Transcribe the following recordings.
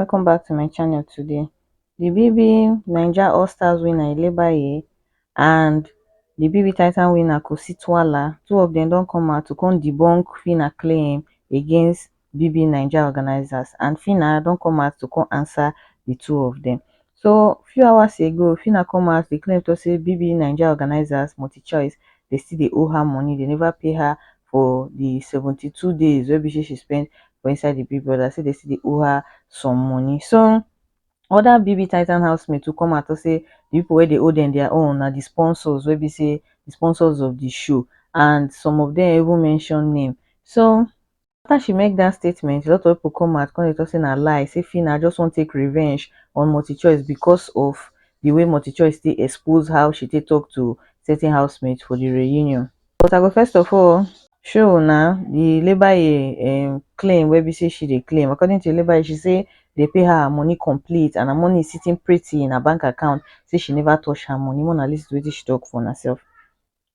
welcome back to my channel today the bb naija all stars winner elebaye and the bb titan winner kositwala two of them don't come out to come debunk fina claim against BBNaija organisers and Phyna don come out to come answer di two of dem. So few hours ago, Phyna come out dey claim talk say BBNaija organisers, MultiChoice, dey still dey owe her money, dey never pay her for di seventy two days wey be say she spend for inside di Big Brother, say dey still dey owe her some money. So other BBTitan housemates too come out talk say di people wey dey owe dem their own na di sponsors wey be say di sponsors of di show and some of dem even mention name. So after she make dat statement a lot of pipo come out come dey tok say na lie say phyna just wan take revenge on multichoice becos of di way multichoice take expose how she take tok to certain housemates for di reunion but I go first of all show una di Lebaye um claim wey be say she dey claim according to Lebaye she say dem pay her her money complete and her money is sitting pretty in her bank account say she never touch her money make una listen to wetin she tok for una sef.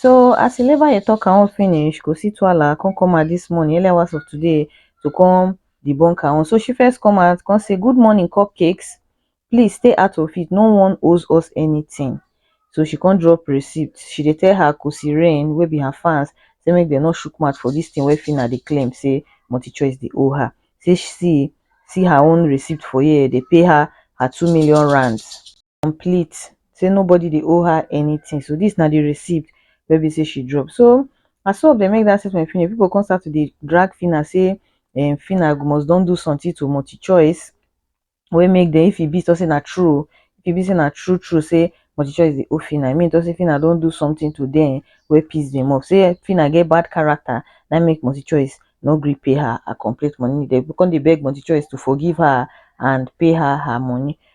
So as Eleva dey talk her own finish, kò sí tuala come come out this morning, early hours of today to come debunk her own. So she first come out, come say, good morning cupcakes, please stay out of it, no one owes us anything. So she come drop receipt, she dey tell her Kosi Rain wey be her fans say make dem no shook mouth for this thing wey Phyna dey claim say MultiChoice dey owe her. Say see, see her own receipt for here, dey pay her her two million rands. complete say nobody dey owe her anything so this na the receipt wey be say she drop so as so they make that statement finish people come start to dey drag Phyna say um, Phyna must don do something to multi choice wey make them if e be so say na true if e be say na true true say multi choice dey owe Phyna I mean to say Phyna don do something to them wey piss them off say Phyna get bad character na make multi choice no gree pay her her complete money they come dey beg multi choice to forgive her and pay her her money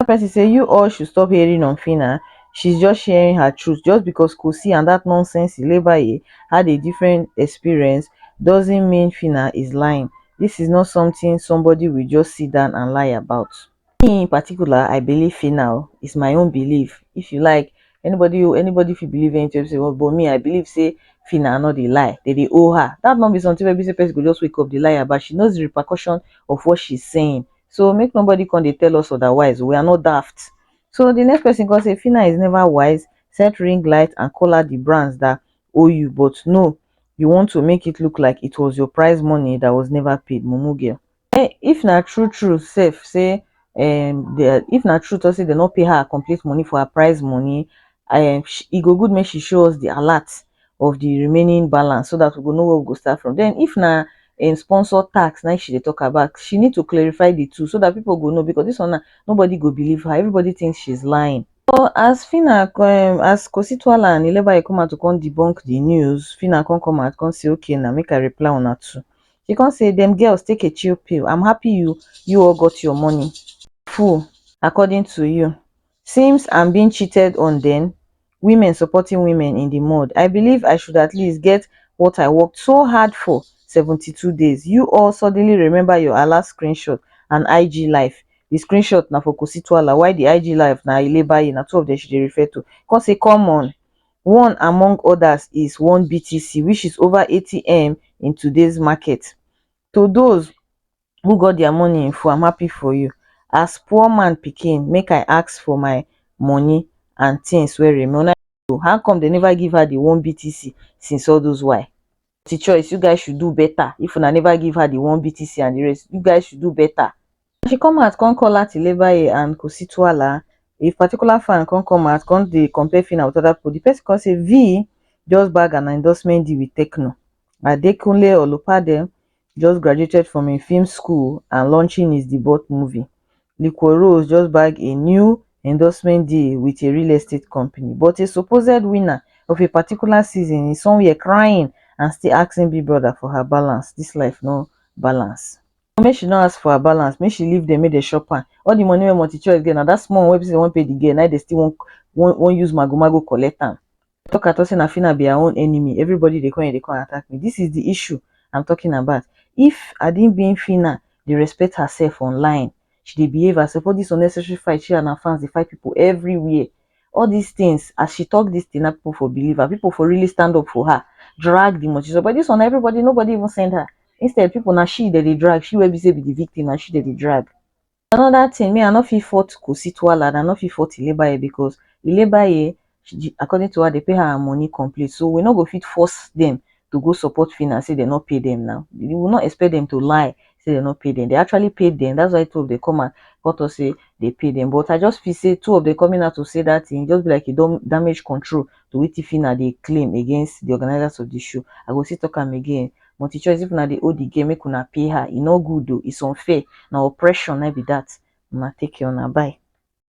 Another person say you all should stop hating on Phyna, she's just sharing her truth just because Kosi and that nonsense Ilebaye had a different experience doesn't mean Phyna is lying, this is not something somebody will just sit down and lie about. Me in particular I believe Phyna o, it's my own belief, if you like anybody o, anybody fit believe anything wey be say dey want but me I believe say Phyna no dey lie, dem dey owe her, that no be something wey be say person go just wake up dey lie about, she knows the repercussion of what she's saying, So make nobody come dey tell us otherwise. We are not daft. So the next person come say Fina is never wise. Set ring light and call out the brands that owe you, but no, you want to make it look like it was your prize money that was never paid, mumu girl. Eh, if na true true sef say um the if na true talk say they no pay her her complete money for her prize money, um sh- e go good make she show us the alert of the remaining balance so that we go know where we go start from. Then if na um, sponsor tax now she dey talk about, she need to clarify the two so that people go know because this one now, nobody go believe her. Everybody thinks she's lying. So as Fina um, as Kositwala and Ilebaye come out to come debunk the news, Fina come come out come say okay now make I reply on her too. She come say them girls take a chill pill. I'm happy you you all got your money. Fool, according to you. Seems I'm being cheated on then. women supporting women in di mud i believe i should at least get what i worked so hard for 72 days you all suddenly remember your alleged screenshot and ig live di screenshot na for kositwala while di ig live na ilebaye na two of dem she dey refer to come say come on one among others is one btc which is over 80m in today's market to those who got their money in full am happy for you as poor man pikin make i ask for my money and things wey remain una go how come they never give her the one btc since all those why the choice you guys should do better if una never give her the one btc and the rest you guys should do better she come out come call out Ilebaye and Kosituala. A particular fan come come out, come dey compare Fina with other people. The person come say V just bag an endorsement deal with Tecno. Adekunle Olupade, just graduated from a film school and launching his debut movie, Liquor Rose just bagged a new endorsement deal with a real estate company. But a supposed winner of a particular season is somewhere crying and still asking Big Brother for her balance. This life no balance. Make she no ask for her balance, make she leave them, make they shop her. All the money wey multi choice get, now that small one wey person won't pay the girl, now they still won't, won't, won't use mago mago collect am. talk at all say na Fina be her own enemy everybody dey come here dey come attack me this is the issue I'm talking about if Adingbin Fina dey respect herself online she dey behave herself all this unnecessary fight she and her fans dey fight people everywhere all these things as she talk this thing na people for believe her people for really stand up for her drag the multitude but this one na everybody nobody even send her instead people na she dem dey drag she wey be say be the victim na she dem dey drag Another thing, me I no fit fault Kositwa lad, I no fit fault Ilebaye because Ilebaye, she, according to her, they pay her her money complete. So we no go fit force them to go support Phyna, say they no pay them now. We will not expect them to lie, say they no pay them. They actually paid them. That's why two of them come and cut us say they pay them. But I just feel say two of them coming out to say that thing, just be like you don't damage control to what Phyna they claim against the organizers of the show. I go still talk am again. Multichoice if una dey hold the girl make una pay her, e no good o, it's unfair, na oppression na im be that, una take care una bye.